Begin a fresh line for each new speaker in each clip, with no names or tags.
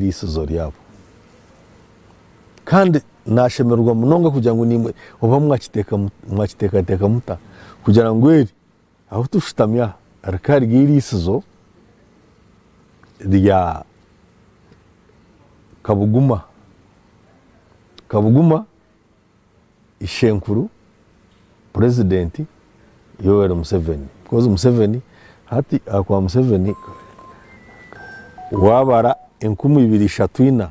eiriisizo ryabo. Kandi naashemererwa munonga kugira ngu naimwe oba mwakiteekateeka muta kugira ngu eri ahu tushutami aha rikaba riri eiriisizo rya Kabuguma Kabuguma. ishenkuru purezidenti Yoweri Museveni because Museveni hati ahakuba Museveni waabara enkumi ibiri ishatu ina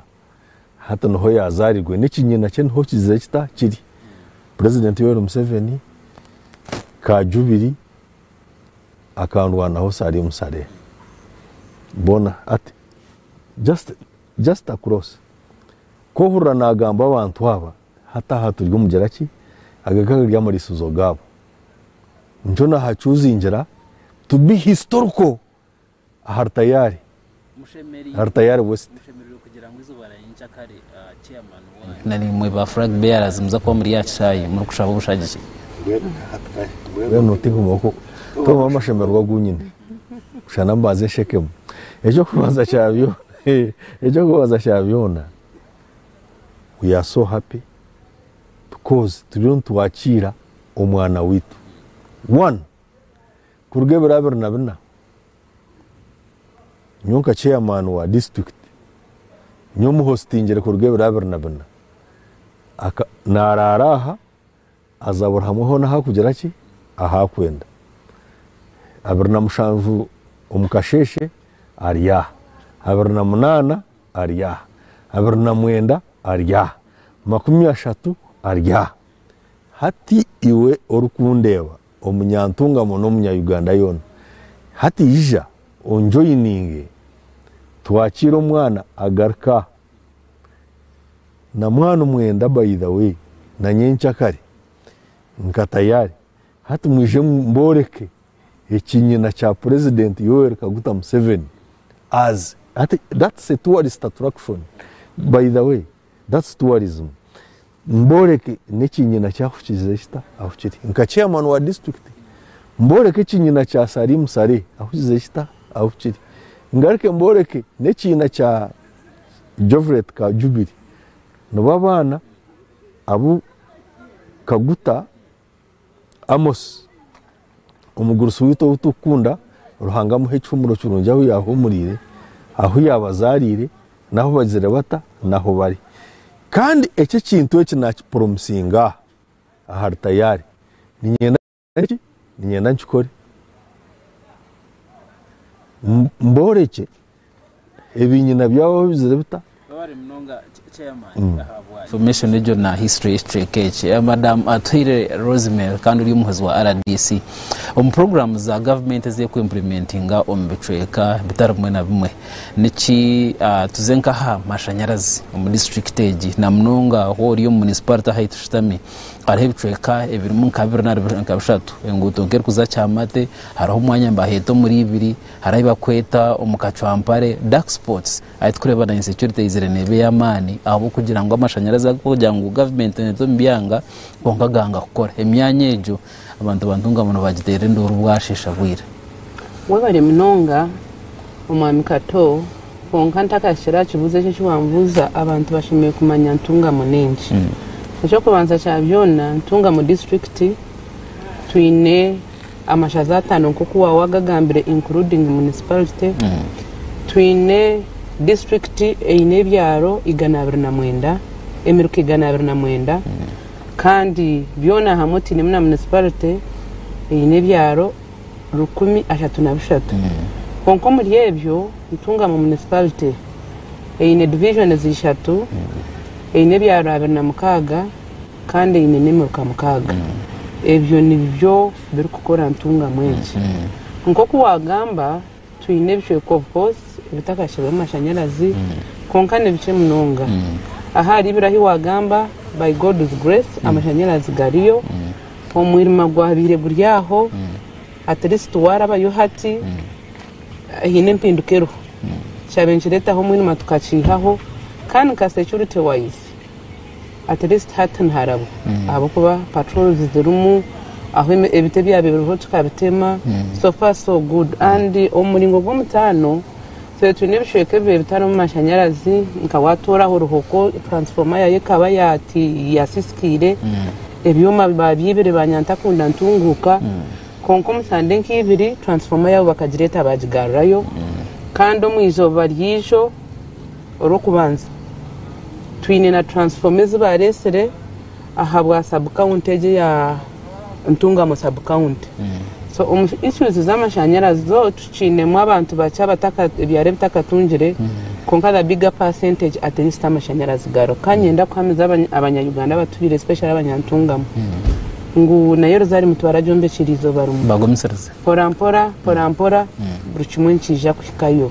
hati niho yaazarirwe n'ekinyina kye niho kizire kita kiri purezidenti Yoweri Museveni ka jubiri akandwanaho Salim Saleh boona hati just Just across. Ku ohurira naagamba abantu aba, hati aha turi omu gira ki? Aga gari amariisizo gaabo. Nikyo naahacuuzingira to be historical ahari tayaari, ahari tayaari west.
Na naimwe ba flag bearers muza kuba muri aha kishaayi muri kushaba obushagiki. Mbwenu
notehomaho ku tohomaho amashemererwa gu nyine. Kusha na mbanze nshekemu. Eky'okubanza kya byona. Eky'okubabaza kya byona, we are so happy because turiyo nitwakiira omwana waitu one kuruga ebiro abiri na bina, nyowe nka chairman wa district, nyowe omuhostingire kuruga ebiro abiri na bina, aka, naaraara aha, Aza buri hamwe hoona ahu arikugira ki? Ahu arikwenda. Abiri na mushanju omu kasheeshe ari aha. Abiri na munaana ari aha. Abiri na mwenda ari aha. Makumi ashatu ari aha. Hati iwe orikundeeba, omunyantungamo n'omunya-Uganda yoona, hati ija onjoyininge twakiire omwana agaruke aha. Na mwaanu mwenda by the way na nyenkya kare nka tayari hati mwije mboreke ekinyina kya president Yoweri Kaguta Museveni as hati that's a tourist attraction by the way that's tourism mboreke nekinyina kye ahukize kita ahukire nka chairman wa district mboreke ekinyina kya Salim Saleh ahukize kita ahukire ngaruke mboreke nekiina kya Jovilet Kajubiri nibo abaana abu Kaguta Amos omugurusi waitu ou turikukunda Ruhanga amuhe ekihumuro kirungi ahu yaahumuriire, ahu yaabazaariire, n'ahu bagizire bata n'ahu bari. Kandi eki ekintu eki naakipuromisinga aha aha ritayaari. Niinyenda. Eki niinyenda nkikore, mboorekye ebinyina byabo babizire bita. Babare munonga
chairman mm. ahabwa information egyo na history y'ekicweka eki eh, madam atuhire Rosemary kandi ori omuhozi wa RDC omu program za government ez'ekwemplementinga omu bicweka bitari bimwe na bimwe niki ah, tuze nkaha mashanyarazi omu district egi na munonga hori omu municipality ahu tushutami Hariho ebicweka ebirimu nka bibiri nari nka bishatu enguuto nk'erikuza kyamate hariho omwanya nibaheeta omuri ibiri hariho ebibakweta omu kacwampare dark spots ahi tukureba na insecurity eyizire neeba ey'amaani ahabw'okugira ngu amashanyarazi agokugira ngu government neeta omu byanga kwonka ganga kukora emyanya egyo abantu bantungamu nibagiteera enduuru bwasheesha bwire Webare
munonga Omwami Kato, kwonka ntakahikire aha kibuuzo eki eki wambuuza, abantu bashemereire kumanya ntungamo n'enki. Eky'okubanza kya byona ntungamo disiturikiti, twine amashaza ataano nk'oku waaba wagagambire including munisiparite, twine disiturikiti eine ebyaro igana abiri na mwenda, emiruka igana abiri na mwenda kandi byona hamwe otainemu na munisiparite eine ebyaro. rukumi ashatu na bishatu. Kwonka omuri ebyo, Ntungamo Municipality eine divizhonizi ishatu, eine ebyaro abiri na mukaaga kandi eine n'emiruka mukaaga. Ebyo nibyo birikukora Ntungamo egi. Nk'oku waagamba, Twine ebicweka of course ebitakashirweho mashanyarazi kwonka nibikye munonga. Ahari biri ahi wagamba by God's grace amashanyarazi gariyo, omwirima gwabaire guri aho at least warabayo hati haine empinduka eriho. Kikyabaire nikiretaho omwirima tukakiihaho kandi nka security wise at least hati niharabwa ahabw'okuba patrols zirimu, ahu ebiti ebyabire biriho tukabitema, so far so good and omu muringo gw'omutaano twire twine ebicweka ebibaire bitarimu mashanyarazi nka waatuura aha ruhoko transformer yaayo ekaba yaasisikaire, ebyoma baabyaibire ba nyantakunda ntunguuka kwonka omu sande nka ibiri transformer yaabo bakagireeta baagigarurayo kandi omu izooba ryaijo Orw'okubanza, twine na transfoma ezi baareetsire ahabwa sabukawunti egi eya Ntungamo sabukawunti. So omu issues z'amashanyarazi zo tukiinemu abantu bakye abataka ebyaro ebitakatungire kwonka the bigger percentage at least amashanyarazi gariho. Ka nyenda kuhamiza abanya Abanya-Uganda abatubiire especially Abanya-Ntungamo ngu nayo Rozari Mutu baragyombekyera eizooba rimwe. Bagumisirize. Mporampora
mporampora
buri kimwe nikiija kuhikayo.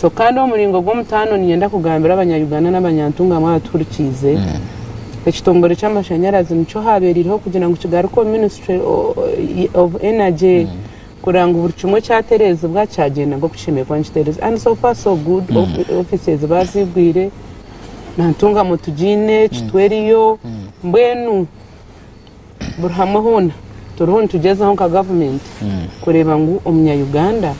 So kandi omuringo gw'omutaano ninyenda kugambira abanyayuganda n'abanyantungamu abatuhurikiize, ekitongore ky'amashanyarazi nikyo haabeereireho kugira ngu kigaruke omu ministry of energy kureba ngu buri kimwe kyatereezibwa kyagyenda nk'oku kishemereire kuba nikitereezibwa and so far so good offices baaziigwire na ntungamu tugiine kitwe eriyo mbwenu Buri hamwe hoona turiho nitugyezaho nka gavumenti kureeba ngu omunyayuganda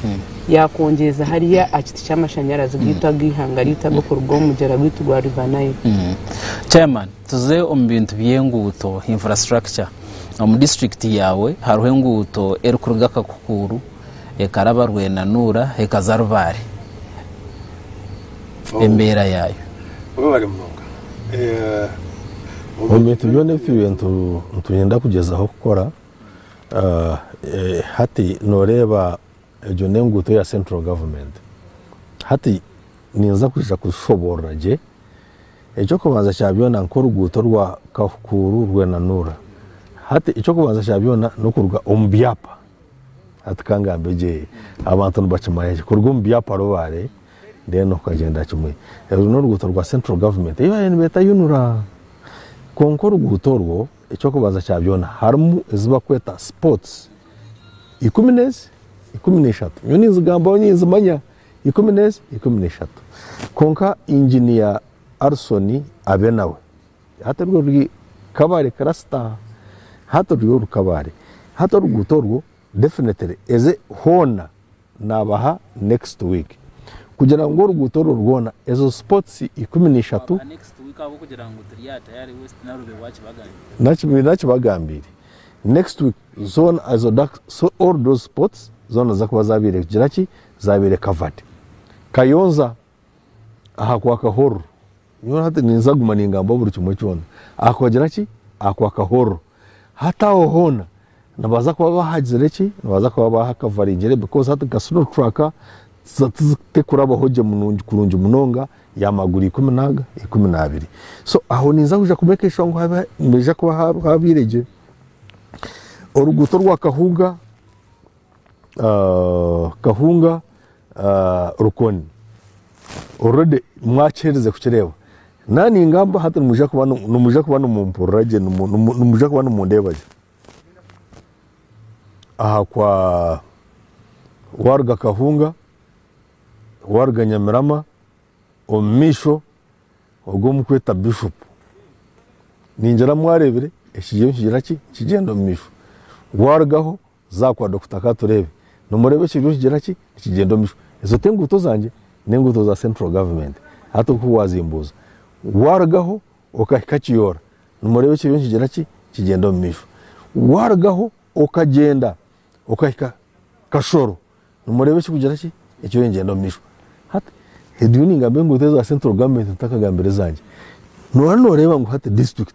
yakwongyeza hariya aha kiti ky'amashanyarazi gaitu ag'eihanga ryaitu ag'okuruga omu mugyera gwaitu gwa River Nile. Chairman,
tuze omu bintu by'enguuto, infrastructure. Omu district yaawe hariho enguuto erikuruga Kakukuuru, ekaraba rwenanuura ekaza Rubaare Oh. embeera yaayo Webale munonga.
Eh,
omu bintu byona ebi twibaire nitu- nitwenda kugyezaho kukora ah, eh, hati noreeba egyo n'enguuto ya central government hati ninza kwija kushoboorora gye eky'okubanza kya byona nk'oruguuto rwa kahukuuru rwenanuura hati eky'okubanza kya byona n'okuruga omu byapa Hati kangambe gye, abantu nibakimanya gye kuruga omu byapa rubaare then okagyenda kimwe. Oru n'oruguuto rwa Central Government ei baabaire nibeeta UNRA. Kwonka oruguuto orwo eky'okubanza kya byona harimu ezi barikweta spots ikumi n'ezi? ikumi n'eishatu. Nyowe ninzigambaho ninzimanya ikumi n'ezi? ikumi n'eishatu. Kwonka engineer Alison abe nawe. Hati orwo ruri kabare kirasita hati orwo ruri kabare hati oruguuto orwo definitely eze hoona nabaha next week kugira ngu oruguuto orwo rwona ezo spots ikumi na ishatu
nakibagambiire
next week zoona ezo all those spots zoona ziza kuba zabaire kugira ki zabaire covered kayonza ahakwakahorro nyowe hati ninza kuguma ningamba buri kimwe kyona ahakuhagira ki ahakwakahorro hati aho hoona nibaza kuba bahagizire ki nibaza kuba bahakavaringire because hati nka sino truck tekurabaho gye kurungi munonga ya maguru ikumi naga ikumi nabiri so aho ninza kuja ku make sure ngu nihaija kuba habaire gye oruguuto orwa kahuga Kahunga Rukoni already mwakiherize kukireeba naba ningamba hati nimwija kuba nimwija kuba nimumpurira gye nimwija kuba nimundeeba gye aha kwa waruga Kahunga waruga Nyamirama omu maisho ogu omurikweta Bishop ningira mwareebire ekigyenyi nikigira ki nikigyenda omu maisho warugaho Zaakwa Dokita ka tureebe. Nomureeba ekyo kiriyo nikigira ki? Nikigyenda omumaisho. Ezo tenguuto zangye, nenguuto za central government. Hati nkoku wazimbuuza, warugaho okahika Kiyoora, nomureeba ekyo kiriyo nikigira ki? Nikigyenda omumaisho. Warugaho okagyenda okahika Kashoro, nomureeba ekirikugira ki? Ekiriyo nikigyenda omumaisho. Hati ndiyo ningamba enguuto eza central government, ntakagambire ezangye. Nooba noreeba ngu hati district.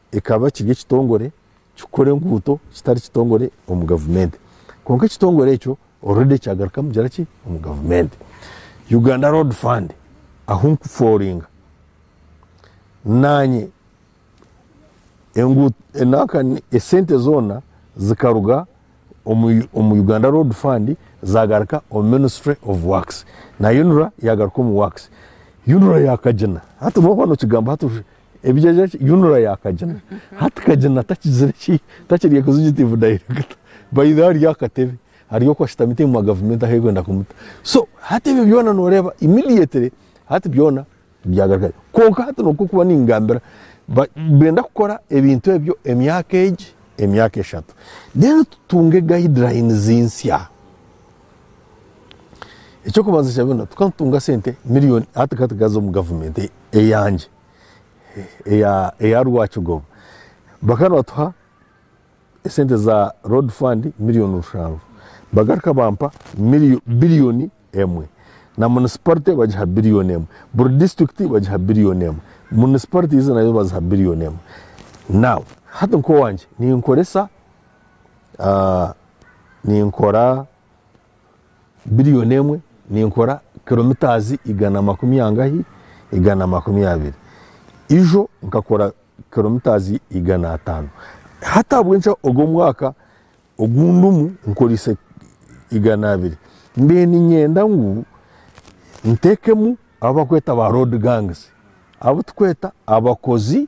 ekaba kiri ekitongore kikora enguuto kitari kitongore omu gavumenti kwonka ekitongore ekyo oredi kyagarukamu kugira ki omu gavumenti uganda road fund ahu nkuforinga nanye esente zoona zikaruga omu uganda road fund zagaruka omu ministry of works na unra yagaruka omu works unra yakagina hati waaba nokigamba hati Ebigyegye ki? Yunura yaakagina. Hati kagina takigire ki? Takiri executive director. By the way ari aha katebe. Ari oku ashutami ti muma gavumenti ahu erikwenda kumuta. So hati ebyo byona nooreeba immediately hati byona byagaruka. Kwonka hati n'oku kuba ningambira ba- benda kukora ebintu ebyo emyaka egi, emyaka eshatu. Then tutunge guidelines nsya. Eky'okubanza kya byona tukatunga sente miliyoni hati katugaza omu gavumenti eyangye eya Rwakigoba bakaba nibatuha esente za road fund miliyoni rushanju bagaruka bampa biliyoni emwe na municipality bagiha biliyoni emwe buri district bagiha biliyoni emwe municipalities nazo baziha biliyoni emwe now hati nk'owangye ninkoresa ninkora biriyoni emwe ninkora kilomitaazi igana makumi angahi igana makumi abiri ijo nkakora kilomitaazi igana ataano hati ahabw'enki ogu omwaka ogu ndimu nkoriise igana abiri mbwenu niinyenda ngu nteekemu abu barikweta ba road gangs abu turikweta abakozi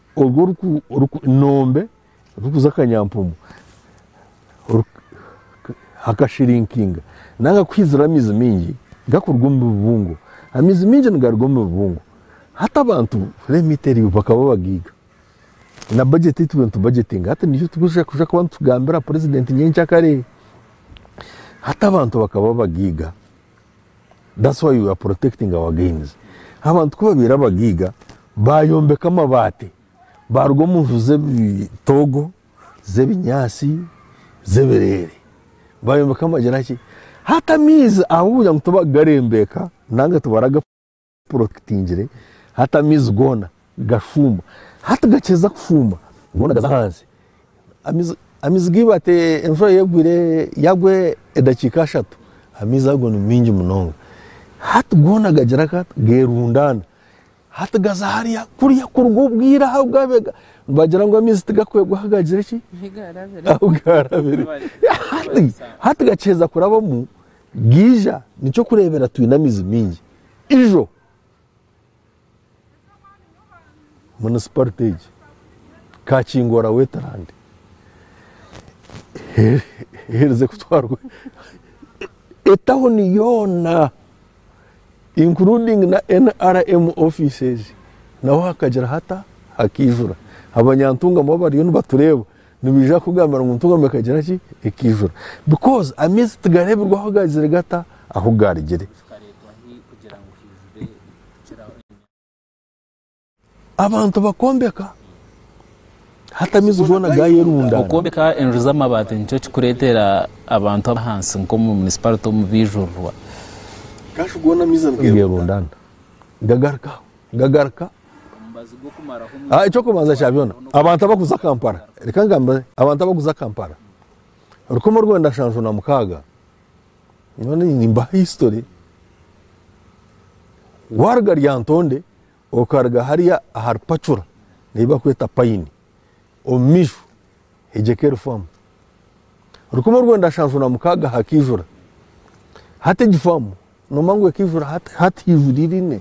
Orwo ruku-ruku-nombe rukuza kanyampumu hakashirinkinga nanga kuhizira amaizi maingi gakuruga omu bibungo. Amaizi maingi nigaruga omu bibungo. Hati abantu remit eriyo bakaba bagaiga. Na budget ei turiyo nitubajetinga hati niyo turikuza kuza kuba nitugambira President nyenkya kare. Hati abantu bakaba bagaiga. That's why we are protecting our gains. Abantu ku babaire abagiiga bayombeka amabaati baaruga omu nju z'ebitoogo z'ebinyaatsi z'ebireere bayombeka amagira ki hati amaizi ahabw'okugira ngu tibakugarembeeka nanga tibaraga Puro kitingire, hati amaizi goona gashuuma, hati gakihiza kushuuma goona gaza ahansi, amaizi geiba hati enshura yegwire yagwa edakiika ashatu amaizi ago ni maingi munonga, hati goona gagira ki hati gerundaana, hati gaza hariya kuriya kuruga obwire ahu gabiire nibagira ngu amaizi tigakwegwa ahu gagire ki ahu garabire, hati gakihiza kurabamu gaija, nikyo kureebera twine amaizi maingi Ijo munisiparite egi kaakingwa ra Wetland eherize kutwarwa etawuni yoona including na NRM offices naho hakagira hata hakaijura. Abanyantungamu abariyo nibatureeba Nibaija kukugambira ngu entugamu ekagira ki? Ekaijura. Because amaizi tigareebirwaho gaagire gata ahu gaarugire. Abantu bakombeka hati amaizi goona gaayerundaana. Okwombeka enju
z'amabaati nikyo kirikureetera abantu abahansi nk'omu munisiparite omu Baijurirwa.
Gaayerundaana. Gagaruka aho. Gagaruka. Ah, ekyokubanza kya byona abantu abakuza kampala reka ngambe abantu abakuza kampala rukumi orwenda nshanju na mukaaga nyowe nimbaha history waruga ryantonde okaruga hariya ahari pacura neyi bakweta payini Omu maisho, hegyeka erifamu. Rukumi orwenda nshanju na mukaaga hakaijura hata egifamu, noomanya ngu ekaijura hata hata eijura irine.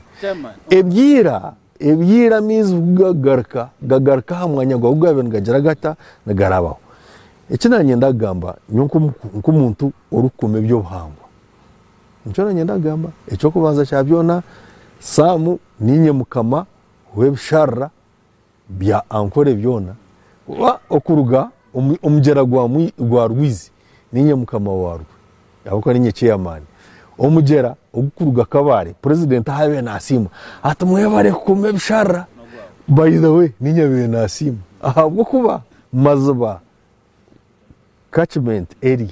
Ebyaira, ebyaira amaizi ku gagaruka, gagaruka aha mwanya gwago gaabaire nigagira gata, nigarabaho. Eki naanyenda kugamba, nyowe nk'omu- nk'omuntu orikukuuma ebyobuhangwa, nikyo naanyenda kugamba, eky'okubanza kya byona, Saamu niinye Mukama w'ebisharura. Bya Ankore byona oba okuruga omu omugyera gwa gwa rwizi, niinye mukama waarwo, ahabw'okuba niinye chairman. Omugyera ogukuruga Kabale, president ahaabaire naasiima ati mwebare kukuma ebisharara, by the way niinye abaire naasiima ahabw'okuba maziba catchment area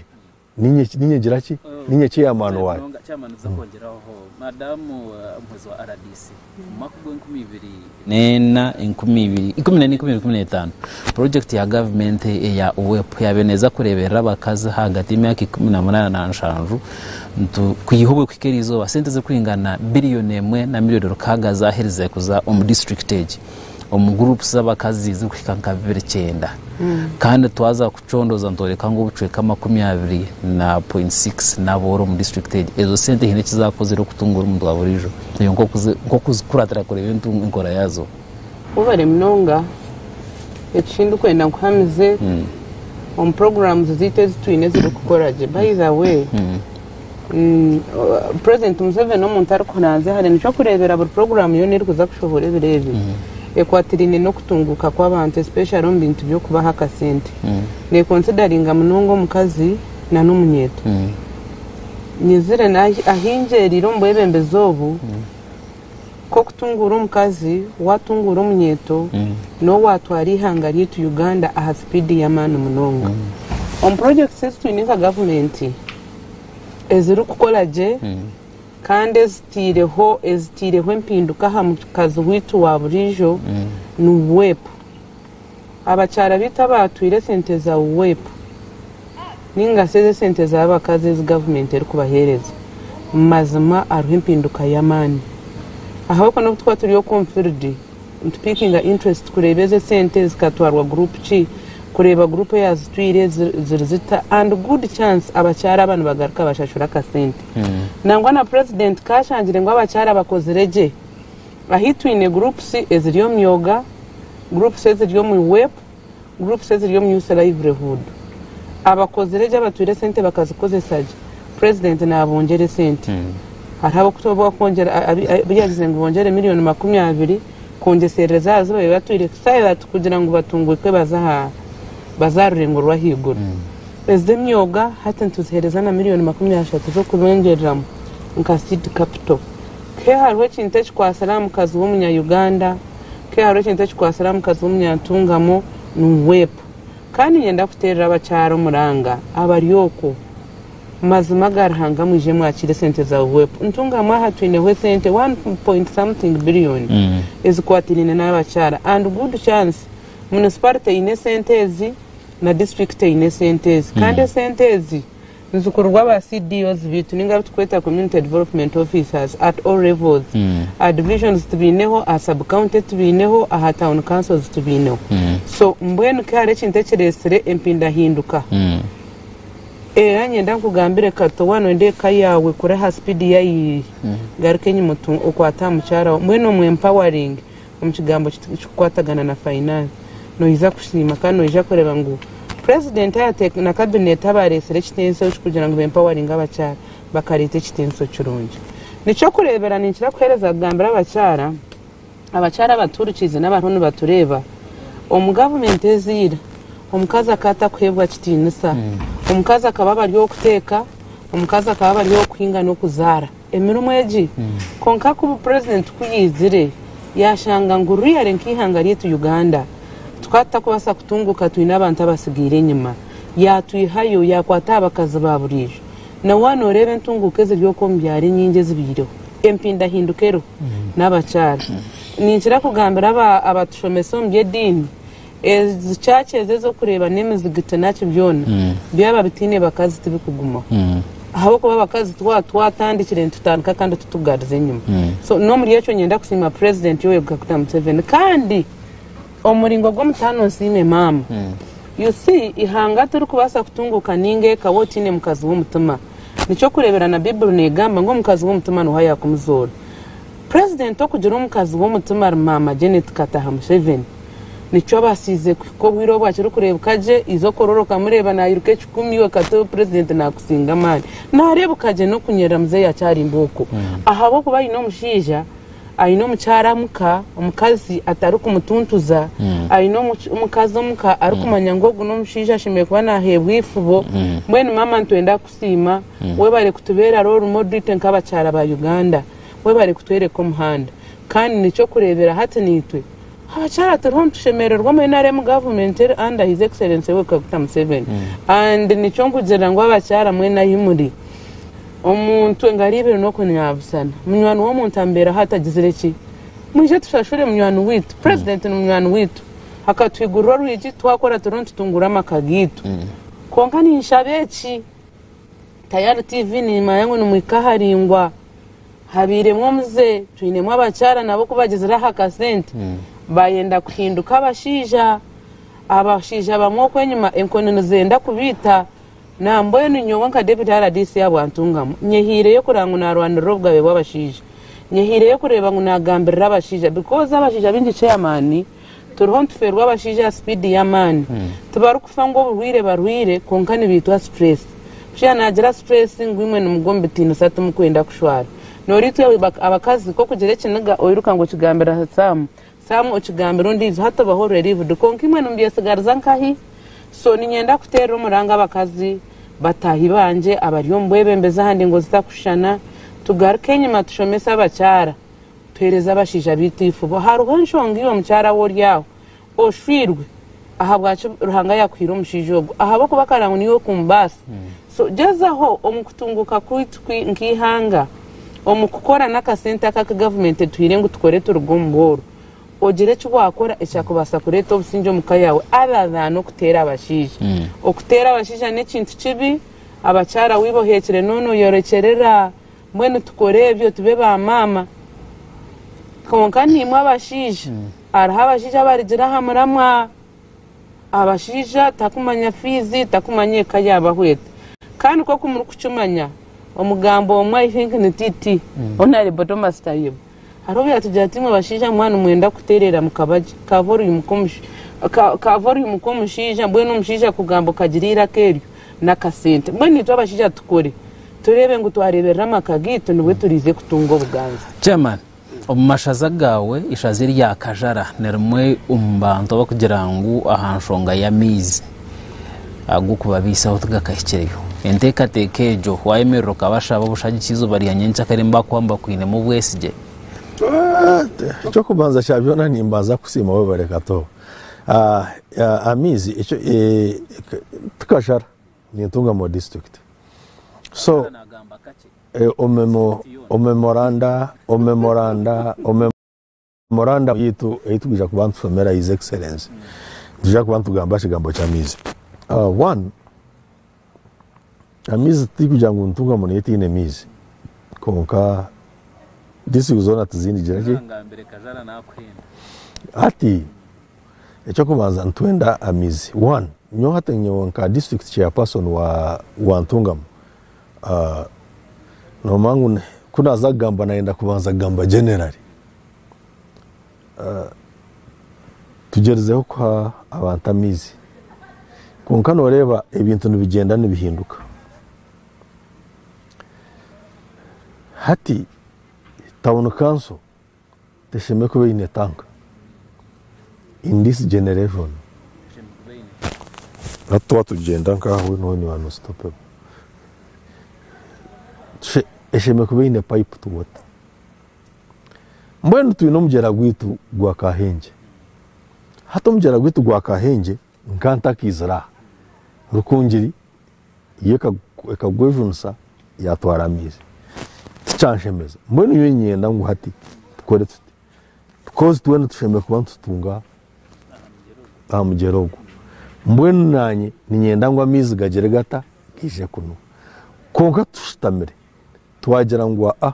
ninye ki- ninye ngira ki ninye chairman waayo Munonga, chairman nza kwongyeraho
ho madamu eh, omuhwezi wa rdc omu mwaka gwa enkumi ibiri neena enkumi ibiri ikumi neena enkumi ibiri ikumi n'etaano project ya gavumenti eya uwep yaabaire neeza kureeberera abakazi ahagati y'emyaka ikumi na munaana na nshanju ntu kwiha obwekuhika eri izooba sente zirikuhingana na biliyoni emwe na miliyoni rukaaga zaaherize kuza omu district egi omu guruupu z'abakazi ezirikuhika nka bibiri kyenda kandi twaza kucondooza nitworeka ngu obucweka makumi abiri na pointi sikisi n'abooro omu disiturikiti egi. Ezo sente haine eki zaakozire okutunguura omuntu wa buriijo reeba nk'okuzikuratira kureeba enkora yaazo. Webare
munonga. Eki ndikwenda nkuhamize omu puroguraamu zaitu ezi twine ezirikukora gye. By the way. President Museveni omuntu arikuranzya hare nikyo kureebera buri puroguramu yoona erikuza kushohora ebiro ebi ekwatiraine n'okutunguuka kw'abantu especially omu bintu by'okubaha akasente. Neekonsidaringa munonga omukazi nana omunyeeto. Nyizire ahi ngyeriire omu bwebembezi obu. k'okutunguura omukazi, waatunguura omunyeeto n'obu waatwara eihanga ryaitu Uganda aha sipiidi y'amaani munonga. Omu projects ezi twine nka gavumenti ezirikukora gye kandi ezitaireho ezitaireho empinduka aha mukazi waitu wa buriijo ni WEP. abakyara baitu abaatwire esente za UWEP nainga shi ez'esente z'abakazi ezi gavumenti erikubaheereza, mazima hariho empinduka y'amaani. Ahabw'okuba n'obu turikuba turi okwo omu field, nitupiikinga interest kureeba ezi esente zikatwarwa group ki, kureeba group eyaazitwire ziri zita and good chance abakyara aba nibagaruka bashashura akasente. Nangwa na purezidenti ka ashangire ngu abakyara bakozire gye, Ahi twine groups eziri omu yoga, groups eziri omu WEP, groups eziri omu Youth Livelihood. Abakozire gye abatwire sente bakazikozesa gye, president nabongyera esente. Hariho abokutwire abu yagize ngu bongyere million makumi abiri kwongyeserera ezi aha zibaire batwire Silas kugira ngu batungwikwe baze aha baze aha rurengo rw'ahaiguru. Ezi emyoga hati nituzihereza na million makumi ashatu z'okubengyereram nka seed capital. Ke hariho ekintu ekikwatsire aha mukazi w'omunya-Uganda, ke hariho ekintu ekikwatsire aha mukazi w'omunya-Ntungamo, ningwepa. Ka niinyenda kuteerera abakyara omuranga abari okwo. Mazima ga Ruhanga mwije mwakiire esente za UWEP. Ntungamo aha twineho esente one point something billion ezikwatiraine n'abakyara and good chance municipality eine esente ezi na district eine esente ezi kandi esente ezi Nzikururwa ba CDOs baitu ninga abu turikweta Community Development Officers at all levels. Aha Divisions tubaineho, aha Sub County tubaineho, aha Town Councils tubaineho. So mbwenu ku hariho ekintu ekiretsire empindahinduka, era niinyenda nkugambire Kato waaba nooyenda eka yaawe kure aha speed yayiiri, garuka enyima otu, okwate aha mukyara waawe, mbwenu omu empowering. omu kigambo ekirikukwatagana na fainaasi noija kusiima kandi noija kureeba ngu purezidenti na kabineeti abaareetsire ekitensyo eki kugira ngu bempawaringe abakyara bakareeta ekitensyo kirungi. Nikyokureebera ninkira kuheereza kugambira abakyara, abakyara abatuurikiize n'abariho nibatureeba omu gavumenti eza ira omukazi akaba atakuheebwa kitiinisa, omukazi akaba abari ow'okuteeka, omukazi akaba abari ow'okuhinga n'okuzaara. emirimo egi kwonka ku bupurezidenti ku yaizire yashanga ngu really nk'eihanga ryaitu Uganda tukaba tutakubaasa kutunguuka twine abantu abatsigaire enyima yaatwihayo yaakwata aha bakazi ba buriijo na waaba nooreeba entunguuka eziri okwo omu byaro enyingi ezibaireho empindahinduka eriho n'abakyara ninkira kugambira abatushomesa omu by'ediini Ezi church ezo ezokureeba nemizigiti naki byona byaba bitaine bakazi tibikugumaho ahabwokuba abakazi twaba twatandikire nitutandika kandi titugarize enyima so nomuri ekyo nyenda kusiima president Yoweri Kaguta Museveni kandi omuringo gwomutaano nsiime maama you see ihanga tirikubaasa kutunguuka ninga eka waaba otaine mukazi womutima nikyo kureebera na bible negamba ngu omukazi womutima nuuho ayakumuzoora president okugira omukazi womutima ari maama Janet Kataha Museveni nikyo abasiize kuhika obwire obu akirikureebeka gye, eizooka ororekamu reeba nairuka ekikumi iwe katebe purezidenti naakusinga amaani. Naareebeka gye n'okunyirira muzeeyi akyari mbooko. Ahabw'okuba aine omushaija, aine omukyara omuka, omukazi atarikumutuntuza, aine omukazi omuka arikumanya ngu ogu n'omushaija ashemereire kuba naaheebwa eifubo. Mbwenu maama nitwenda kukusiima, webare kutubeera role modite nk'abakyara ba Uganda. Webare kutworeka omuhanda. Kandi n'eky'okureeberaho hati naitwe. Aha kyaro turiho nitushemererwa omu nrm government eri under his excellency Yoweri Kaguta Museveni and nikyo nkugirira ngu abakyara mwena ahi muri omuntu engaro ibiri n'okunyabusana munywani w'omuntu amubeeraho atagizire ki mwije tushashure munywani waitu president ni munywani waitu akatuhigurira orwigi twakora turiho nitutungura amaka gaitu kwonka ninshaba eki Tayari TV nimanya ngu nimwika aharaingwa habairemu omuze twinemu abakyara nabo kubagyezire aha kasente hmm. bayenda kuhinduka abashaija abashaija bamwe oku enyuma enkoni nizenda kubiita nambwenu nyowe nka David rdc abwantungamu nyehiireyo kureba ngu narwanirira obugabe bw'abashaija nyehiireyo kureba ngu nagambirira abashaija because abashaija baingi chairman Turiho nituferwa abashaija aha speed yamaani. Tibarikufa ngu oburwaire barwaire kwonka nibaitwa stress. Mushaija nagira stress ngu imwe nimugwa omu bitiinisa timukwenda kushwara. Noritwe abakazi ku okugira ekiniga oiruka ngu okigambira aha Sam. Sam okigambira ondiijo hati obaho ori relieved kwonka imwe nimubyesigariza nkahi? So ninyenda kuteerera omuranga abakazi, bataahi bangye abari omu bwebembezi aha ndengo zitakushushana tugaruke enyima tushomese abakyara. Tuheereze abashaija baitu eifubo. Hariho enshonga iwe mukyara we ori aho. Oshwirwe. Ahabwaki Ruhanga yakuhaire omushaija ogwo? Ahabw'okuba akara ngu niiwe okumubaasa. So gyezaho omu kutunguuka kwaitu nk'eihanga, omu kukora n'akasente aka aku gavumenti etuhaire ngu tukore turuge omu bworo, ogire eki waakora ekyakubaasa kureeta obusingye omu ka yaawe other than okuteera abashaija. Okuteera abashaija n'ekintu kibi. Abakyara weiba oheekire n'onoyorekyerera. Mbwenu tukore ebyo tube ba maama. Kwonka naimwe abashaija, hariho abashaija abarigira aha muramwa. Abashaija takumanya fiizi, takumanya eka yaabaho eti. Kandi nk'oku murikukimanya, omugambo omwe I think ni TT, Honourable Thomas Tayebwa. Hariho obu yatugira ati, Imwe bashaija muba nimwenda kutereera mu kabagye ka voliyumu k'omush- ka- ka voliyumu k'omushaija, mbwenu omushaija akugamba okagira eiraka eryo n'akasente. Mbwenu itwe abashaija tukore tureebe ngu twareeberera amaka gaitu nibwo turiize kutunga obuganzi. Chairman,
Omu mashaza gaawe ishaza erya Kajara nirimwe omu bantu abakugira ngu aha nshonga y'amaizi. ag'okubabaisaho tigakahikireyo. Enteekateeka egyo waayemerera okabashaba obushagiki eizooba rya nyenkyakare nibakuha ngu bakwinemu obwesigye?
Eky'okubanza kya byona nimbanza kusiima webare Kato. Amaizi tikashara nintunga mu disiturikiti so omeme oranda, omeme oranda. Memorandum yaitu ei twija kuba nitushomera His Excellency, nitwija kuba nitugamba aha kigambo ky'amaizi. Uh, one, amaizi tituri kugira ngu nituunga muno etaine maizi, kwonka disitirikiti zoona tizindigira ki Kazangambire kazara nakuhenda. Hati ekyokubanza nitwenda amaizi one nyowe hati nyowe nka district chairperson wa, wa Ntungamo ah, nomanya ngu n- ku naza kugamba nayenda kubanza kugamba generally Tugyerizeho kuha abantu amaizi kwonka nooreeba ebintu nibigyenda nibihinduka. Hati tauni kanso teshemereire kuba eine tanka in this generation. Hati twaba tugyenda nk'aha weena weena you are unstoppable. Eshemereire kuba eine pipe to water. Mbwenu twine omugyera gwaitu gwa Kahengye. Hati omugyera gwaitu gwa Kahengye nka ntakaizire aha, Rukungiri yo ekagwejunisa yaatwara amaizi. Tikyanshemeza. Mbwenu nyowe niinyenda ngu hati tukore tuti? Because twena tushemereire kuba nitutunga aha mugyera ogwo. Mbwenu naanye niinyenda ngu amaizi gagyere gata? Gaije kunu. Kwonka tushutamire, Twagira ngu aa,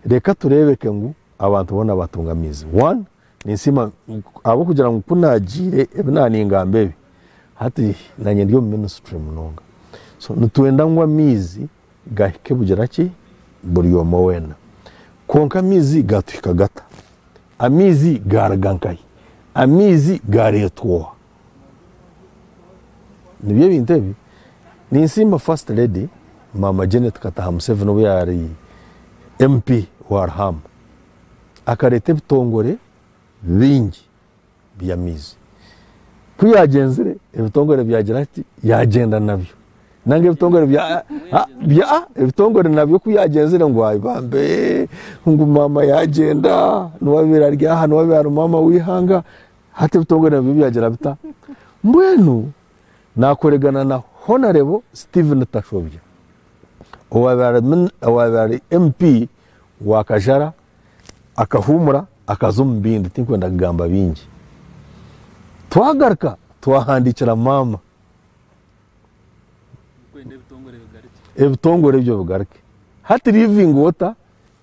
reka tureebeke ngu abantu boona baatunga amaizi. One, ninsiima ahabw'okugira ngu ku naagiire ebi naaningamba ebi, hati naanye ndi omu minisitule munonga. So nitwenda ngu amaizi gahike bugira ki? Buri omwe weena. Kwonka amaizi gaatuhika gata? Amaizi gaaruga nkahi? Amaizi gaareetwa oha? Nibyo ebintu ebi. Ninsiima First Lady Maama Janet Kataha Museveni obu yaari MP wa Ruhamba, akareeta ebitongore bingi by'amaizi. Ku yaagyenzire, ebitongore byagira ki? Yaagyenda nabyo. Nanga ebitongore bya, ah, bya, ah, ebitongore nabyo ku yaagyenzire ngu ayi bambe, ngu maama yaagyenda, niwe abaire ari aha, niwe abaire ari maama w'eihanga. Hati ebitongore nabyo byagira bita? Mbwenu nakoregana na Honarebo Stephen Tashobya owaabaire ari MP wa Kajara akahuumura akaza omu bindi tinkwenda kugamba bingi. Twagaruka twahandiikira maama ebitongore ebyo bigaruke hati living water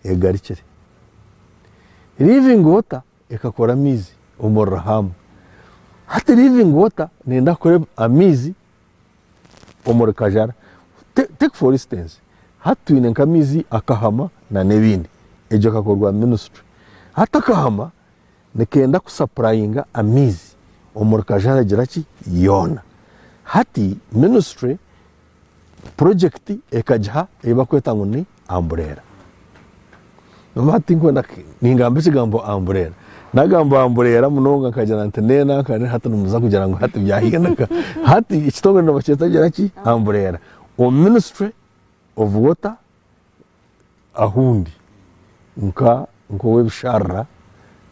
egarukire living water Ekakora amaizi omuri Rahamu. Hati living water neyenda kukora amaizi omuri Kajara. Take for instance, hati twine nk'amaizi a Kahama na n'ebindi. Egyo ekakorwa ministry. Hati Akahama nikenda ku supplyinga amaizi omuri Kajara gira ki? Yoona. Hati ministry. purojekiti ekagiha ei bakweta ngu ni ambureera noba tinkwenda ningamba ekigambo ambureera nagamba ambureera munonga nkagira nti nena nkane hati nimuza kugira ngu hati byahinduka hati ekitongore nibakyeta gira ki ambureera omu ministry of water ahundi nka nk'ow'ebisharara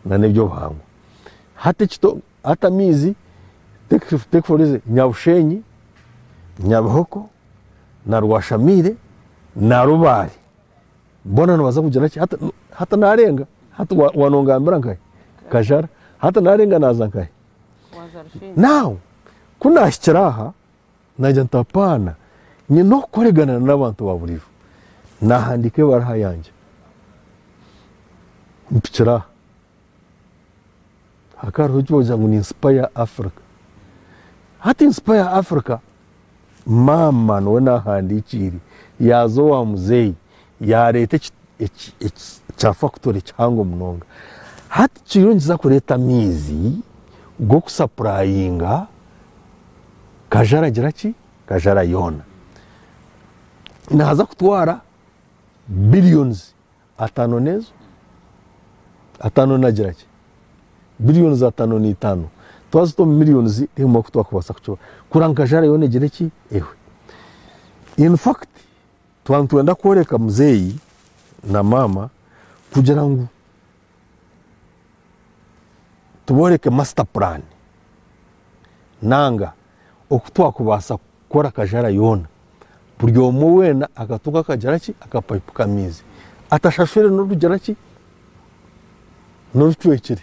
na n'eby'obuhangwa. Hati ekito, hati amaizi, take, take for easy, Nyabushenyi, Nyabihoko, na Rwashamiire, na Rubaare, boona nibaza kugira ki? Hati, hati naarenga, hati wa- wanongambira nkahe? Kajara. Hati naarenga naaza nkahe? Waza Rushenyi. Now, ku naahikire aha, Naagira nti, Apaana, nyine okukoregana n'abantu ba burijo. Naahandiika ebaruha yangye mpikire aha. Hakaba hariho eki barikweta ngu ni Inspire Africa. Hati Inspire Africa, maama niwe naahandiikiire, yaaza owa muzeeyi yaareeta eki eki eki kya fakutoori kihango munonga, hati kiriyo nikiza kureeta amaizi g'okusapurayinga Kajara gira ki? Kajara yoona. Naaza kutwara billions ataano n'ezo ataano nagira ki? Billions ataano n'eitaano. Twazita omu millions tiharimu oku twakubaasa kukibara. Kurora ngu Kajara yoona egire ki? Ehwe. In fact, Twaba nitwenda kworeka muzeeyi na maama kugira ngu tubooreke masita puraani nanga oku twakubaasa kukora akajara yoona, buri omwe weena akatunga akagira ki akapayipu k'amaizi atashashwire n'orugira ki n'orucwekire.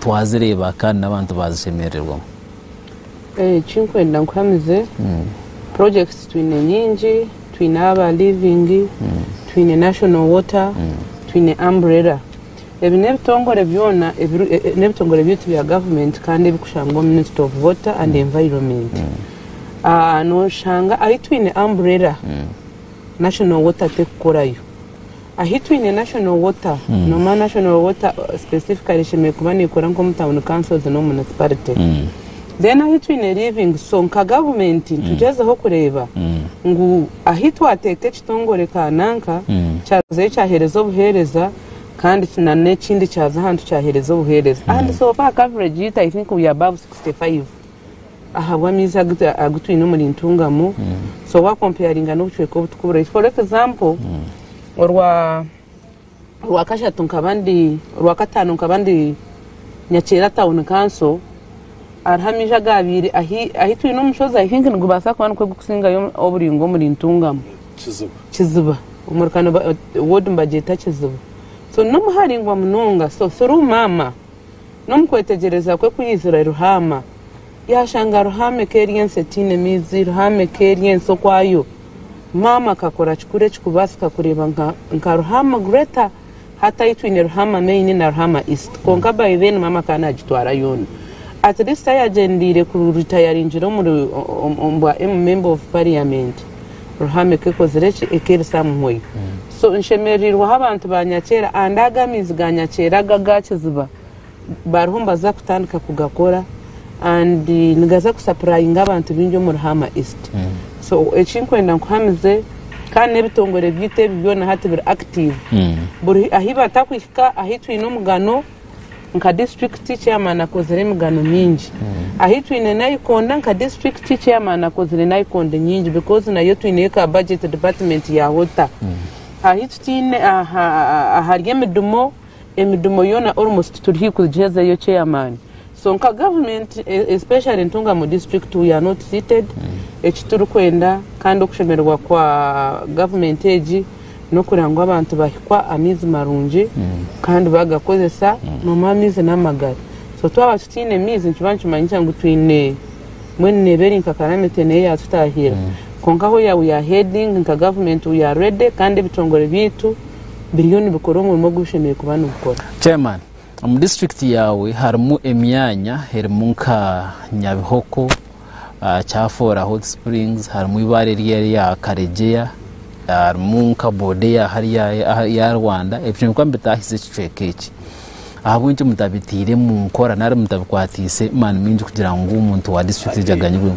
Twazireeba kandi n'abantu baazishemererwamu. Eki nkwenda
nkuhamize, projects twine nyingi, twine aba Living, twine National Water, twine Umbrella. Ebi n'ebitongore byona n'ebitongore byaitu bya government kandi ebirikushangwa omu Ministry of Water and Environment. Nooshanga ahi twine Umbrella, National Water terikukorayo. Ahi twine National Water noma National Water specifically eshemereire kuba nekora nkomu Town Councils nomu Municipality. Then ahi twine Living so nka government nitugyezaho kureeba ngu ahi twateeka ekitongore kananka kyazayo kyahereza obuhereza kandi na nekindi kyaza ahantu kyahereza obuhereza and so far coverage yitu I think we are above 65. ahabw'amaizi agu twine omuri Ntungamo so wa comparinga n'obucweka obu tukuburaizi for example orwa orwakashatu nkaba ndi orwakatano nkaba ndi Nyakyera town council hariho amaizi agabaire ahi ahi twine omushozi i think nigubaasa kuba nigwo gurikusingayo oburingo omuri Ntungamo Kiziba omuri Kano ward nibagyeta Kiziba so n'omu haraingwa munonga so through maama N'omu kwetegyereza kwe ku yaizire Ruhama, yaashanga Ruhama eka eri ensi etaine maizi, Ruhama eka eri ensi okwayo. Maama akakora kikuru ekirikubaasika kureeba nka Ruhama Greta. Hati ahi twine Ruhama Main na Ruhama East. Kwonka by then maama akaba naagitwara yoona. At least ahi yaagyendeire kuritayaringire omu bwa member of parliament. Ruhame ku ekozire ki? Ekeeresa muhoyo. So nshemereirwe ahu abantu ba nyakyera and ago amaizi ga nyakyera aga aga kiziba bariho nibaza kutandika kugakora and nigaza kusapurayinga abantu baingi omu Ruhama East. So eki nkwenda nkuhamize kandi n'ebitongore byaitu ebi byona hati biri active. Buri ahi batakuhika ahi twine omugano. Nka Disiturikiti Chairman akozire emigano mingi. Ahi twine Naikonda, nka Disiturikiti Chairman akozire Naikonda nyingi because nayo twineyo ka Budget Department ya Hota. Ahi tutaine aha ahari emidumo, emidumo yoona almost turi haihi kugihezayo Chairman. So nka government especially Ntunga mu district we are not fitted ekiturikwenda kandi okushemererwa kwa government egi nokureba ngu abantu bahikwa amaizi marungi kandi bagakozesa nomu amaizi namagara so twaba tutaine maizi nikiba nikimanyisa ngu twine mbwenu neba eri nka calamity nayo eyatutahirira kwonka where we are heading nka government we are ready kandi ebitongore byaitu biriyo nibikora omurimo ogubishemereire kuba nibikora. Chairman. Omu
disiturikiti yaawe harimu emyanya erimu nka Nyabihoko, Kyafoora Hot Springs, harimu eibaare erya Karegeya, harimu nka boda eya hariya eya Rwanda, ebyo nikwo mbitaahize ekicweka eki. Ahabw'enki mutabitaire omu nkora nari mutabikwatiise maani maingi kugira ngu omuntu wa disiturikiti egyo aganyirwemu?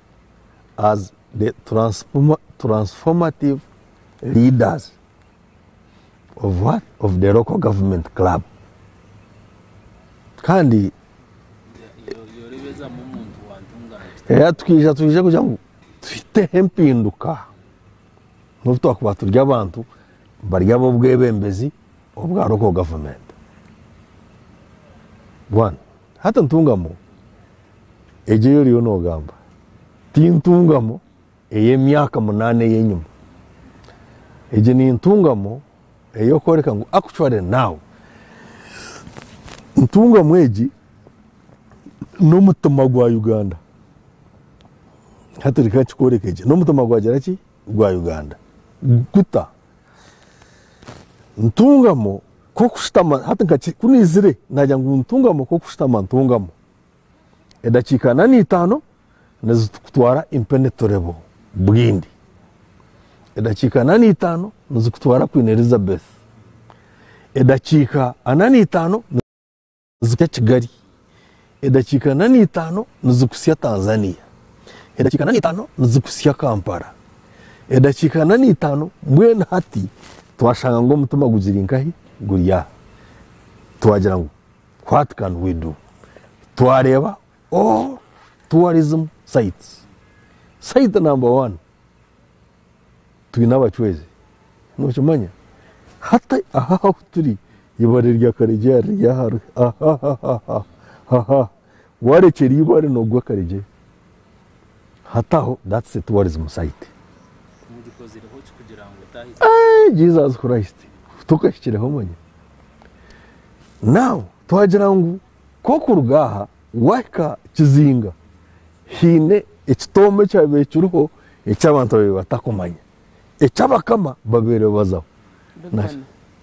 as the transformative leaders of what? Of the local government club. Kandi era tukija twije kugira ngu tuteho empinduka nobu twakuba turi abantu bari ab'obwebembezi obwa local government. Bwana hati ntungamu Egyo ei oriyo noogamba ti ntungamo ey'emyaka munaana ey'enyima. Egi ni ntungamo ey'okworeka ngu actually now. Ntungamo egi n'omutima gwa Uganda. Hati reka nkikworeke gye. N'omutima gwagira ki? Gwa Uganda. Guta? Ntungamo ku okushutama, hati nka ki- ku naizire naagira ngu ntungamo ku okushutama ntungamo. edakiika ana n'eitaano nizikutwara impenetrable bwindi edakiika ana n'eitaano nizikutwara Queen Elizabeth edakiika ana n'eitaano nizikutsya Kigali edakiika ana n'eitaano nizikutsya Tanzania edakiika ana n'eitaano nizikutsya Kampala edakiika ana n'eitaano mbwenu hati twashanga ngu omutima gugiri nkahi guri aha twagira ngu What can we do? Twareeba all tourism sites. Site number one twine abacwezi nokimanya hati aha ahu turi ibare rya karegye riri aha aha warekyera ibare nogwa karegye Hati aho that's the tourism site. Eeh Jesus Christ tokahikireho manya. Now twagira ngu ku orikuruga aha waahika Kizinga haine ekitoome ekyabaire kiriho eki abantu babaire batarikumanya eki abakama babaire bazaho.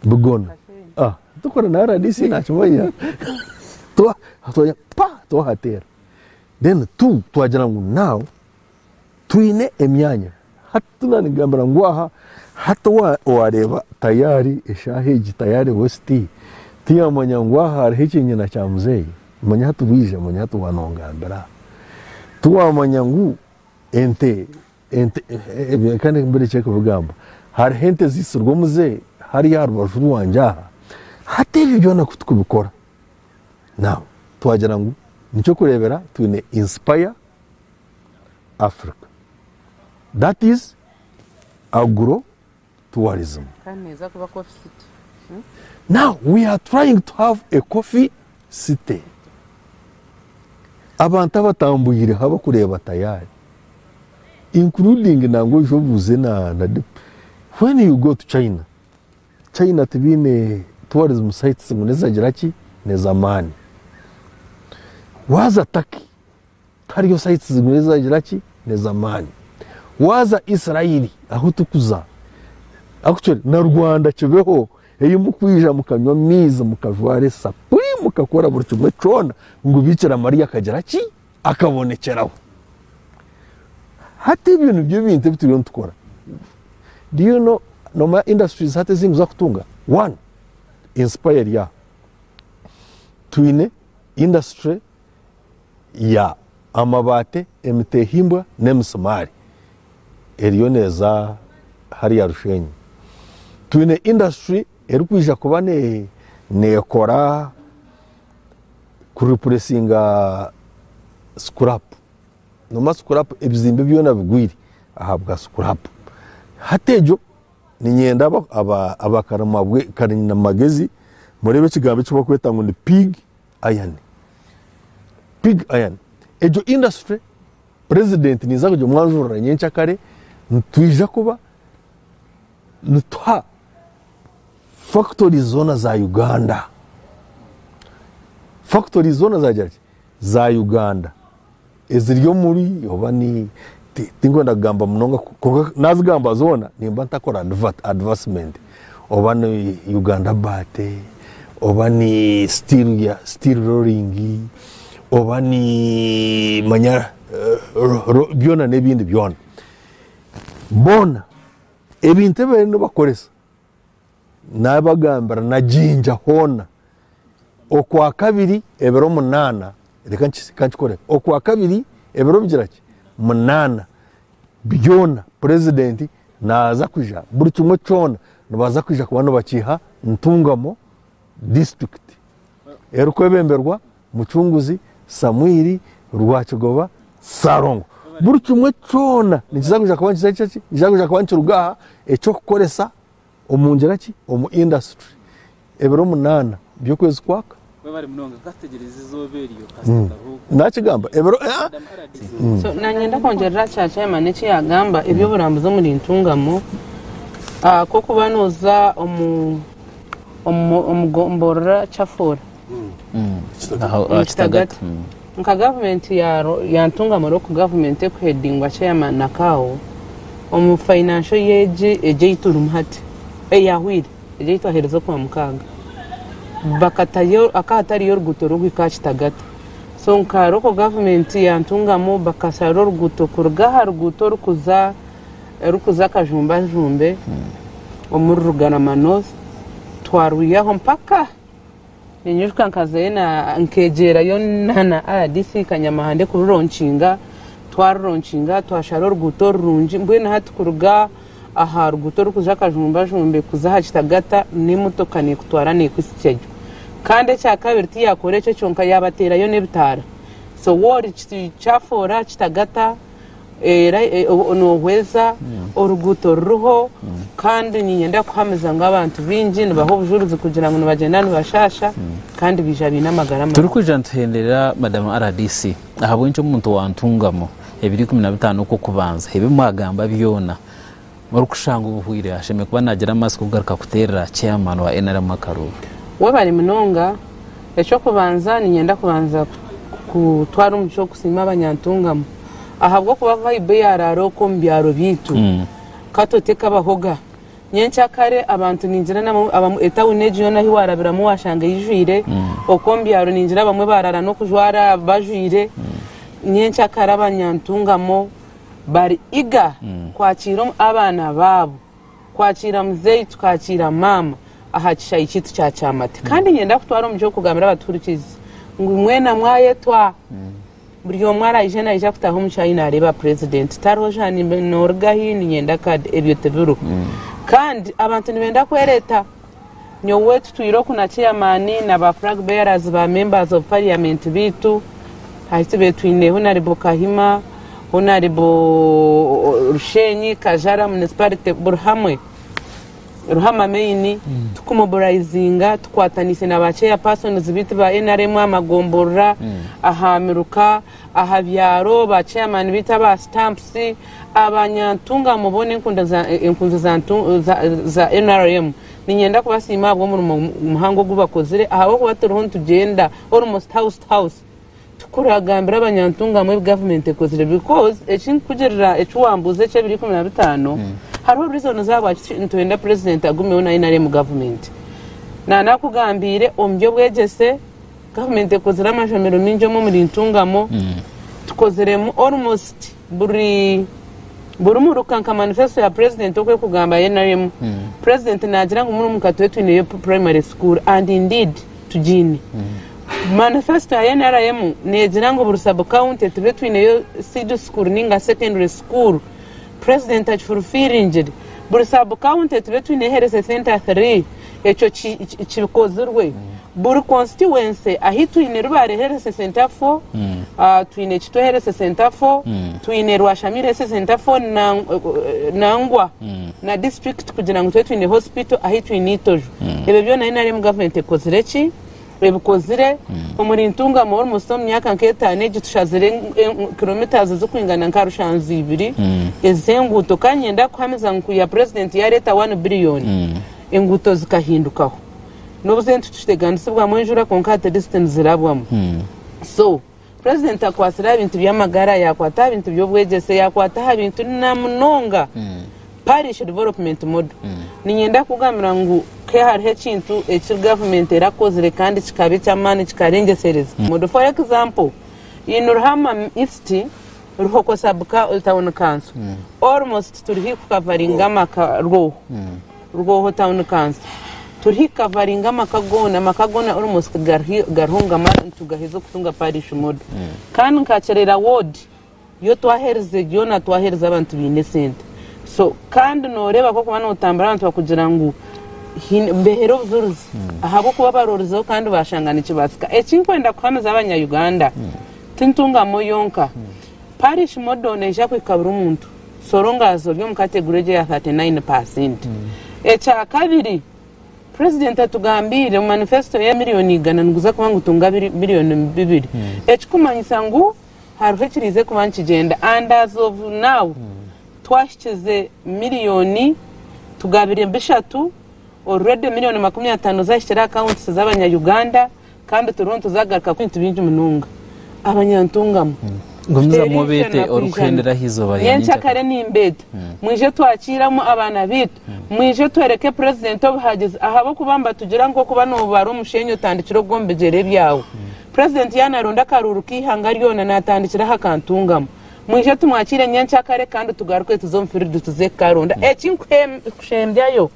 Bigona. Aah tikuri na RDC naakimanya. Twa twa pa twahateera Then tu twagira ngu now twine emyanya hati nanigambira ngu aha hati owareeba tayari eshaaha egi tayari west tiyamanya ngu aha hariho ekyenyina kya muzeeyi manya hati bwija manya hati wanongambira tiwamanya ngu ente ente ebyo kandi mbere kyekubigamba hariho ente zitsirwe omuzeeyi hariya aha rubaju rwangye aha hati ebyo byona kutukubikora Now twagira ngu niky'okureebera twine Inspire Africa that is Agro Tourism. Kandi neeza kuba Coffee City. Now we are trying to have a Coffee City. Abantu abatambuireho abakureeba tayari including nangwa oije obuuze na na when you go to China China tibaine tourism sites ngu nezagira ki nezamaani. Waaza Turkey tihariyo sites ngu nezagira ki nezamaani. Waaza Israeli ahu turikuza actually na Rwanda kibeho ei murikwija mukanywa amaizi mukajwara esapuri mukakora buri kimwe kyona ngu Bikira Maria akagira ki akabonekyeraho. Hati ebyo nibyo ebintu ebi turiyo nitukora. Do you know nomanya industries hati ezi nituza kutunga? One, Inspire eri aha. Twine industry ya amabaate, emiteehimbwa n'emisimaari eriyo neeza hariya Rusheenyi. Twine industry erikwija kuba neekora kuripuresinga sikurapu noba sikurapu ebizimbe byona bigwire ahabwa sikurapu hati egyo ninyenda abakarimagezi murebe ekigambo eki bakweta ngu ni pig iron pig iron egyo industry purezidenti ninza kugimwanjurira nyenkya kare nitwija kuba Nituha factories zoona za Uganda. Factories zoona zagira ki? Za Uganda. Eziri omuri oba ni ti- tinkwenda kugamba munonga ku- kwonka nazigamba zoona nimba ntakora advert, advarsement. Oba ni Uganda Bate, oba ni steel ya steel rolling, oba ni manya ro- ro- byona n'ebindi byona. Boona. Ebintu ebi bariyo nibakoresa naabagambira na Jinja hoona okwakabiri ebiro munaana reka nkikore okwakabiri ebiro bigira ki munaana byona purezidenti naaza kwija buri kimwe kyona nibaza kwija kuba nibakiiha Ntungamo disiturikiti erikwebemberwa Mucunguzi, Samwiri, Rwakigoba, Sarongo. Buri kimwe kyona nikiza kuja kuba nikiza kukira ki? Nikiza kuja kuba nikiruga aha eky'okukoresa omu ngira ki? Omu industry. Ebiro munaana by'okwezi kwaka. Webare munonga. Ka
tutegyereize izooba eryo kasita hmm. karuhuuka. Nakigamba ebiro eh,
hmm. So nanyenda
kwongyerera kya chairman eki yagamba eby'oburambuzi omuri ntungamo ah, k'okuba noza omu omu omu gomborora chafoora omu kitagata. Nka gavumenti ya ya ntungamura oku gavumenti ekuhedingwa chairman na kawo omu financial year egi egi ei turimu hati eyahwire egi ei twahereza oku wa mukaaga bakatayo akahatariyo oruguuto rurikuhika aha kitagata so nka local government ya ntungamu bakashara oruguuto kuruga aha ruguuto orukuza orukuza akajumba jumbe omuri rugarama north twarwihaho mpaka ninyiruka nkazayo na- nkegyerayo na na rdc kanyamahande kururonkinga twaruronkinga twashara oruguuto orurungi mbwenu hati kuruga aha ruguuto orikuza akajumbajumbe kuza aha kitagata n'emotoka nekutwara nekuhitsya gye kandi ekyakabiri tiyakora ekyo kyonka yabateerayo n'ebitaara so woori ki- kyafoora kitagata era nohweza oruguuto ruriho kandi niinyenda kukuhamiza ngu abantu baingi nibaha obujuurizi kugira ngu nibagyenda nibashaasha kandi baija baine amagara marungi. Turikwija nituhenderera
Madam rdc ahabw'enki omuntu wa Ntungamo ebiro ikumi na bitaano okw'okubanza ebi mwagamba byona Orikushanga obuhwire ashemereire kuba naagira amatsiko kugaruka kuteerera chairman wa nrm akaruuru. Webale munonga,
eky'okubanza niinyenda kubanza kutwara omugisha ogu kusiima Abanyantungamu ahabw'okuba vibe yaaraara okwo omu byaro byaitu ka tote kabahoga. Nyenkya kare abantu niingira nabo abamwe etauni egi yoona ahi waarabiramu waashanga eijwire okwo omu byaro niingira abamwe baaraara n'okujwara bajwire nyenkya kare Abanyantungamu. bari eager kwakiira abaana baabo, kwakiira muzeeyi tukakiira maama aha kishaayi kyaitu kya Kyamate kandi niinyenda kutwara omu by'okugambira abatuhurikiirizi ngu mwena mwayetwa buri omwe araije naija kutaaha omu kishaayi naareeba purezidenti tariho sha noorigahi niinyenda kaadi, ebyo tibiriho kandi abantu nibeenda kwereeta. Nyowe tutwire oku na Chairman na ba Flag Bearers ba Members of Parliament baitu, hati tubire twine Honarable Kahima, Honarable Rusheenyi, Kajara, Municipality, buri hamwe, Ruhama Main, tukumobilizinga, tukwataniise na ba Chairpersons baitu ba nrm aha magomborora, aha miruka, aha byaro, ba chairman baitu aba stamps, aba nyantungamo boona enkundo za enkunzi za ntu za za nrm ninyenda kubasiima ahabw'omurimo muhango ogu bakozire ahabw'okuba turiho nitugyenda almost house to house tukuragambira aba nyantungamo ebi government ekozire because eki nkugirira eki wambuuza eki ebiri ikumi na bitaano hariho reasons ahabwaki nitwenda president agumeho na nrm government nanakugambiire omu by'obwegyese Gavumenti ekozire amashomero maingi omu omuri Ntungamo. Tukoziremu almost buri buri muruka nka manifesto ya president oku ekugamba ya nrm. President nagira ngu muri omuruka tube twineyo primary school and indeed tugiine. Manifesto ya nrm negira ngu buri sub county tube twineyo seed school ninga secondary school. President akifulfilingire buri sub county tube twine health center three ekyo kikozirwe buri constituency ahu twine rubare health center four twine kitwe health center four twine rwashami health center four nangwa na district kugira ngu tube twine hospital ahu twine itojo ebyo byona nrm government ekozire ki ebikozire omuri Ntungamo ori munsi omu myaka nka etaano egi tushazire kilometres ezikwingana nka rushanju ibiri ezenguuto kandi nyenda kuhamiza ngu kuya president yareta one billion enguuto zikahindukaho nobu zentutiteganisibwamu enjura kwonka at least nizirabwamu so Purezidenti akwatsire aha bintu by'amagara, yaakwata aha bintu by'obwegyese, yaakwata aha bintu na munonga parish development model. Niinyenda kukugambira ngu ke hariho ekintu eki gavumenti erakozire kandi kikaba eky'amaani kikarengyesereza. Model for example, in Ruhama East, Ruhoko sub tawuni kanso, almost turi haihi kukavaringa amaka rwoho. Rwoho Town Council. Turiho i Kavari ngu amaka goona, amaka goona almost gariho gariho ngu amara nitugaheza okutunga Parish Model. Kandi nka Kyerera Ward yo twaherize yoona twaherize abantu baine esente. So kandi nooreeba ku orikuba nootambura abantu bakugira ngu haine nibeehera obujurizi ahabw'okuba baroorizeho kandi baashanga nikibaasika. Eki nkwenda kuhamiza Abanya-Uganda, ti Ntungamo yonka. Parish Model neija kuhika buri muntu. Soora engaazo ori omu kategori egyo eya 39 paasenti. Ekyakabiri, Purezidenti atugambiire ngu manifesito ye miriyoni igana niguza kuba ngu tunga biriyoni bibiri. Ekirikumanyisa ngu hariho ekiriize kuba nikigyenda and as of now twahikize miriyoni tugabire bishatu already miriyoni makumi ataano zahikire akawuntisi z'abanyayuganda Kandi turiho nituzagaruka kwintu bingi munonga abanyantungamo. Gumizamu
Kiteri obeete ishana ku orikuhendera aha izooba ijana. rya Nyenkya nyenkyakare. kare nimbeeta
mwije twakiiramu abaana baitu mwije tworeke purezidenti obuhagizi ahabw'okuba nibatugira ngu okuba noobaara omusheenyi otandikira ogwo omu bigyere byawe. Purezidenti yaanaronda akaruuru k'eihanga ryona naatandikira aha ka Ntungamo. Mwije tumwakiire nyenkyakare kandi tugaruke tuze omu fiilidi tuze kukaronda. Eki nkuhe- kushembyayo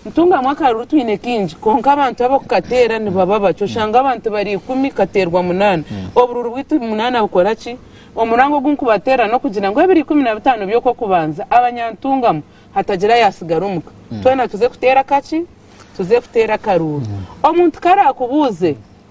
Ntungamu akaruru twine kaingi kwonka abantu ab'okukateera nibaba bake. Oshanga abantu bari ikumi kateerwa munaana. Obururu bwaitu munaana bukora ki? Omurango ogu nkubateera n'okugira ngu ebiri ikumi na bitaano by'okw'okubanza abanyantungamu hatagira ayatsigara omu ka. Twena tuze kuteera akaki? Tuze kuteera akaruuru. Omuntu ku araakubuuze,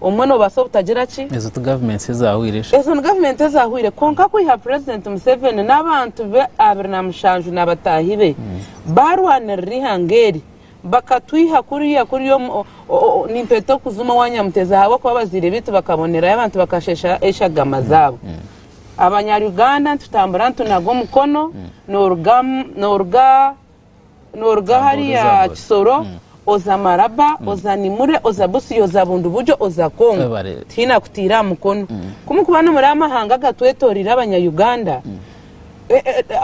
omwe nobaasa obutagira ki. Ezo ti gavumenti eza
hwiire shi? Ezo ni gavumenti eza
hwiire kwonka kwiha purezidenti Museveni n'abantu be abiri na mushanju na bataahi be baarwanirira eihanga eri bakatwiha kuriya kuri nimpeta okuzuma owa Nyamuteezi ahabw'okuba abazaire baitu bakabonerayo abantu bakashesha eshagama zaabo. Abanyaruganda nitutambura nitunaga omukono nooruga Nooruga ahari Kisoro oza Maraba, oza Nimule, oza Busia, oza Bundibugyo, oza Congo, tihaine akutiire aha mukono. Ku mukuba nimuri aha mahanga agatwetoreire Abanya-Uganda,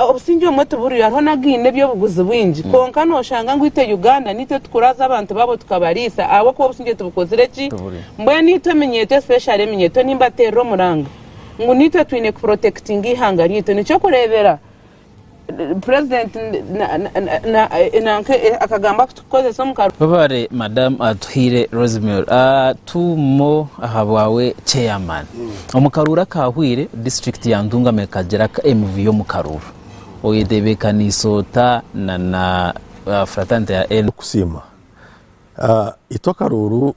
obusingye obumwe tiburiyo, hariho n'againe eby'obuguzi bwingi. Kwonka nooshanga ngu itwe Uganda niitwe tukuraaza abantu baabo tukabariisa ahabw'okuba obusingye tibukozire ki? Mbwenu itwe eminyeeto especially eminyeeto nimbateerera omuranga ngu niitwe twine kuprotekitinga eihanga ryaitu. Nikyo kureebera President nanka akagambo aku tukukozesa omu ka. Webare madam
Atuhaire Rosemary a tu mo ahabwawe chairman omu karuuru akahweire district ya Ntungamo ekagira aka emivuyo omu karuuru oyetebekaniise ota na na fraternity ya N. Kusiima a
itwe akaruuru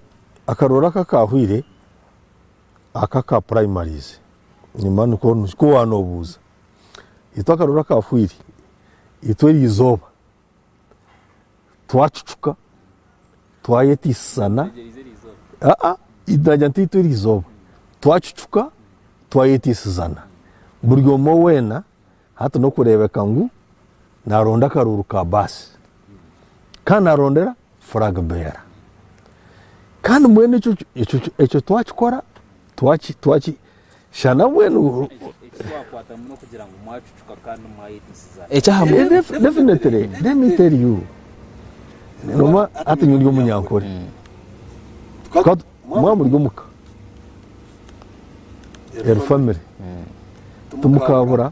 akaruuru aka akahweire aka ka primaries nyuma nikwo nikwo wanobuuza. Itwe akaruru aka fwiri, itwe erizooba twacucuka, twayetiisisana, aa, nagira nti itwe erizooba twacucuka, twayetiisizana, buri omwe weena hati n'okureebeka ngu naaronda akaruru ka baasi. Kandi naarondera flag bearer Kandi mbwenu ekyo twakikora twakishana mbwenu definitely let me tell you noba hati nyuri omunyankore mwa muri omuka eri family tumukabura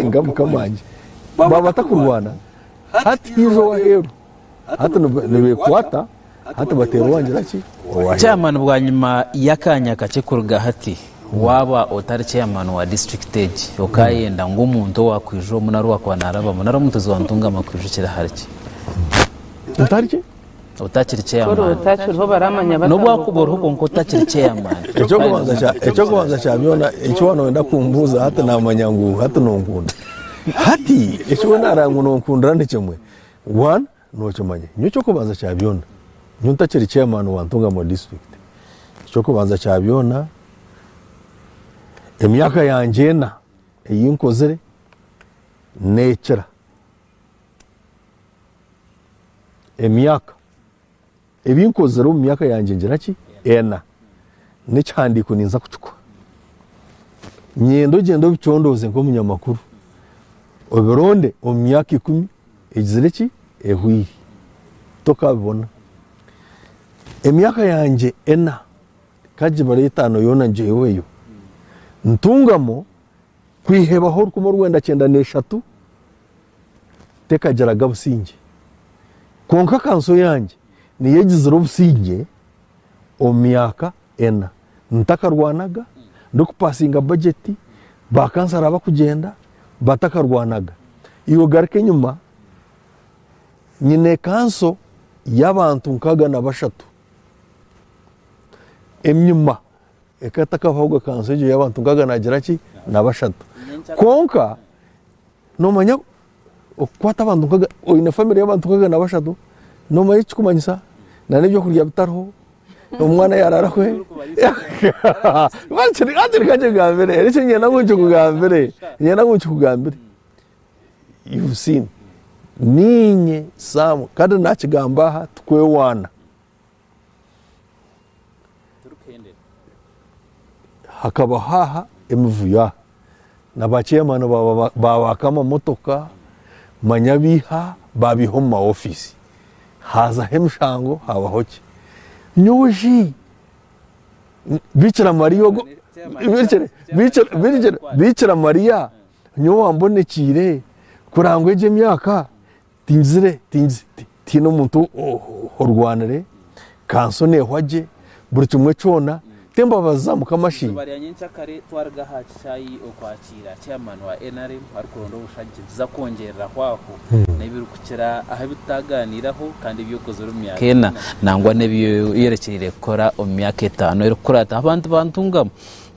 Inga mukama wangye baaba batakurwana hati haija owaheeru hati nibekwata hati bateera owangira ki owaheeru Chairman bwanyima
y'akaanya kakye kuruga hati waaba otari chairman wa district egi okaayenda ngu omuntu owaakwija omu nari owaakuba naarabamu nari omutuzi wa Ntungamo akwijukire ahari ki? Ntari ki? otakiri kyeyamaani
n'obu akuba oriho kwonka
otakiri kyeyamaani
ekyokubanza kya byona eki waaba nooyenda kumbuuza hati naamanya ngu hati nonkunda hati eki we naareba ngu nonkundira nikimwe one nookimanya nyowe ekyokubanza kya byona nyowe ntakiri kyeyamaani wa Ntungamo disiturikiti ekyokubanza kya byona emyaka yangye ena ei nkozire neekira emyaka ebi nkozire omu myaka yangye ngira ki ena n'ekihandiiko ninza kukikuha nyenda ogyende obicondooze nk'omunyamakuru obironde omu myaka ikumi egizire ki ehwire tokabibona emyaka yangye ena kagibare etaano yoona ngyeweyo ntungamo Kwihebaho orukumi orwenda kyenda n'eshatu tekagiraga busingye. Kwonka kanso yangye niyo egizire obusingye omu myaka ena. Ntakarwanaga, ndikupasinga bajeti, ba kansara bakugyenda, batakarwanaga. Iwe garuka enyima, nyine kanso y'abantu nkaga na bashatu. Enyima. Ekatakaho ahubwo ekanzu egyo y'abantu nkaaga naagira ki? Na bashatu. Kwonka noomanya okukwata abantu nkaaga, oine famire y'abantu nkaaga na bashatu, noomanya eki kirikumanyisa? Na n'ebyokurya bitariho, omwana yaaraara hwe? Hati reka nkikugambire, eki niinyenda ngu nkikugambire, niinyenda ngu nkikugambire. You've seen. Niinye Sam, kandi naakigamba aha tikwewaana. Hakabaho aha emivuyo aha na ba chairman babaka amamotoka manya abaiha babaiha omu ma office hazaho emishango habaho ki nyowe shi bikira maria ogu bikira maria nyowe wambonekiire kurangwa egi emyaka Tingizire, tingizi, tihaine omuntu orwanire, ka nso neehwa gye, buri kimwe kyona, t'embabazi za Mukama shi? Eizooba rya nyencakare
twaruga aha kishaayi okwakiira Chairman wa nrm arikuronda obushagi, nituza kwongyereraho aho n'ebirikukira aha ebi tutaagaaniiraho kandi ebi okozire omu myaka ena nangwa n'ebi oyorekyereire kukora omu myaka etaano erikukuraataho. Abantu bantungamu.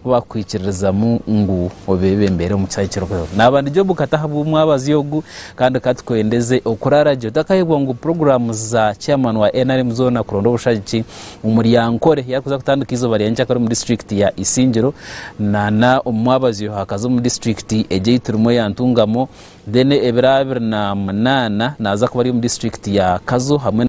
Ku baakukwikiririzamu ngu obeebembere omu kihaayi kirikuhweho, naaba ndi Jobu kata ahabw'omwabazi ogu kandi ka tukwendeze okuraara gye. Otakayebwa ngu puroguraamu za chairman wa nrm zoona kuronda obushagiki omuri Ankole yarikuza kutandika eizooba rya nyakyakare omu disiturikiti ya Isingiro nana omu mwabazi oyo hakaza omu disiturikiti egi ei turimu eya Ntungamo then ebiro abiri na munaana naaza kuba ari omu disiturikiti ya Kazo hamwe